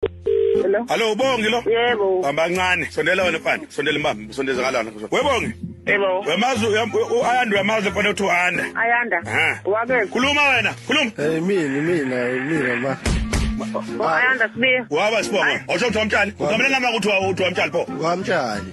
Hello. Hello ubongi lo? Yebo. Hamba kancane. Sondela wena mfana. Sondela imbamba. Sondeza kalana. Webongi. Yebo. Wemazi uyanda uyamazi mfana uthi uyanda. Ayanda. Wake. Khuluma wena. Khuluma. Eh mina mina mina ma. Ayanda sibiya. Waba sibonga. Osho uthi wamtshali. Ugamela ngama ukuthi uthi wamtshali pho. Wamtshali.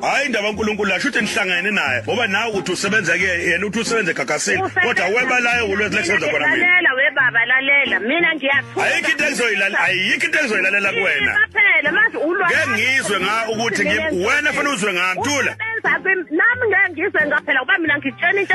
hayi indaba uNkulunkulu la shuthi nihlangene naye ngoba nawe uthi usebenza ke yena uthi usebenza egagasini kodwa weba layo ulwezi lesenza khona mina lalela we baba lalela mina ngiyathuka ayikho into engizoyilalela ayikho into engizoyilalela kuwena phela manje ulwa ke ngizwe nga ukuthi wena fanele uzwe ngantula nami ngeke ngizwe ngaphela kuba mina ngitshena into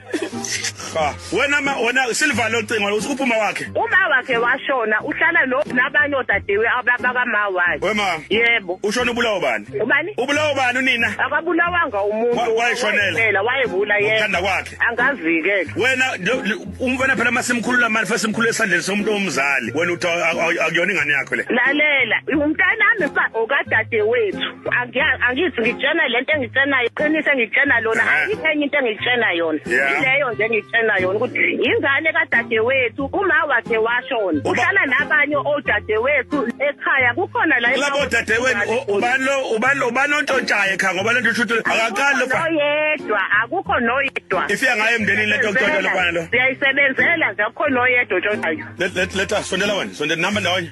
Cha, wena ma wena silivale ucingo usuphuma wakhe. Uma wakhe washona uhlala no nabanye odadewe ababa kama wakhe. Wema. Yebo. Ushona ubulawo bani? Ubani? Ubulawo bani unina? Akabulawanga umuntu. Wayeshonela. Wayebula yena. Uthanda kwakhe. Angazike. Wena umfana phela masimkhulula manje futhi simkhulule esandleni somuntu omzali. Wena uthi akuyona ingane yakho le. Lalela, umntanami okadadewethu. angithi ngitshena lento engitshenayo qinise ngitshena lona ayikho enye into engitshena yona ileyo nje engitshena yona ukuthi ingane kadadewethu uma wakhe washona uhlala nabanye odadewethu ekhaya kukhona la labo dadewenu ubani lo ubani ubani ontshontshayo ekhaya ngoba lento shuthu akaqali lo oyedwa akukho noyedwa ifika ngaye emndenini lento ntshontsha lo bani lo siyayisebenzela nje akukho noyedwa ontshontshayo let let let us sondela wena sondela namba ndawonye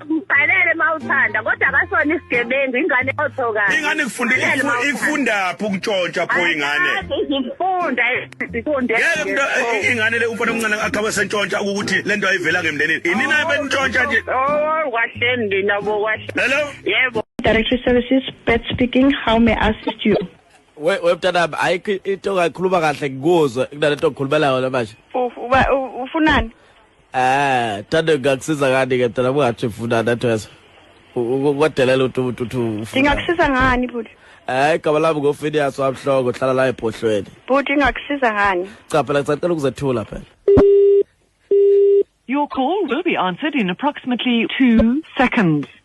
Ngibhalele mawuthanda kodwa akasona isigebengu ingane othoka. Ingane kufunda ikufundaphi ukutshontsha pho ingane. Izifunda izifunde. Yeke mntu eh, ingane le umfana omncane akhabe sentshontsha ukuthi lento ayivela ngemndenini. Inina benitshontsha nje. Oh kwahle ndina bo kwahle. Hello. Yebo. Directory Services, Beth speaking. How may I assist you? We we mntanami ayikho into ongayikhuluma kahle ngikuzwe kunalento okhulumela yona manje. Ufunani? Eh, tade ngakusiza ngani ke phela ungathi ufuna nathwesa. Ukwadelela uthi umuntu uthi ufuna. Ngingakusiza ngani bhuti? Eh, igama lami ngoFinias wamhloko hlala la ebhohlweni. Bhuti ngingakusiza ngani? Cha phela ngisacela ukuzethula phela. Your call will be answered in approximately 2 seconds.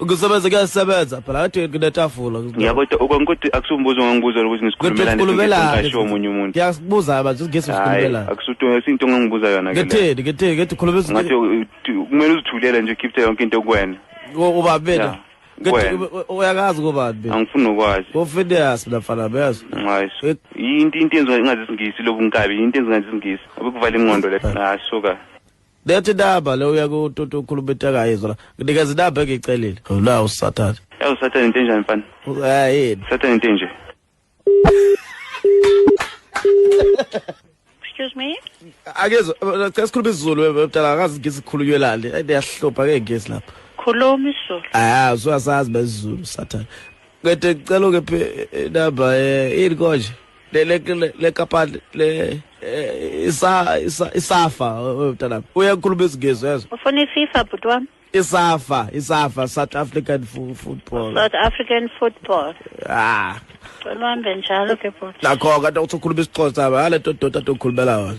ukusebenza kuyasebenza phela kade kunetafula ya kodwa ukonke ukuthi akusumbuzo ngangibuza ukuthi ngisikhulumelane omunye umuntu ngiyakubuza manje ngesi sikhulumelane akusuthi isinto ngangibuza yona ke ngetheni ngetheni ngethi ukhuluma ngathi kumele uzithulele nje ukhiphe yonke into kuwena uba bena uyakazi kobani angifuni nokwazi kofedeas mina mfana beyazi ngayiso yinto into yenziwa ingazisingisi lobu nkabi yinto enzingazi isingisi abekuvala ingqondo le ngasuka Lethi daba le uya kututu ukhuluma into engayizwa la. Nginikeza idaba engicelile. Ula usathane. Ewu sathane into enjani mfana? Hayi. Sathane into enje. Excuse me. Akezwa cela sikhuluma isiZulu mntana akazi ngisi sikhulunywelani. Hayi ngiyahlupha ke ngisi lapha. Khuluma isiZulu. Ah, usasazi bezulu sathane. Ngete cela ukephi inamba eh ini konje? le le le le kapa le eh, isa isa isafa mntanami uyakhuluma izingizwe ezo ufuna iFifa bhuti wami isafa isafa South African football South African football ah cela uhambe njalo ke bhuti nakho kanti uthi ukhuluma isiXhosa hayi le nto doda tokhulumela wona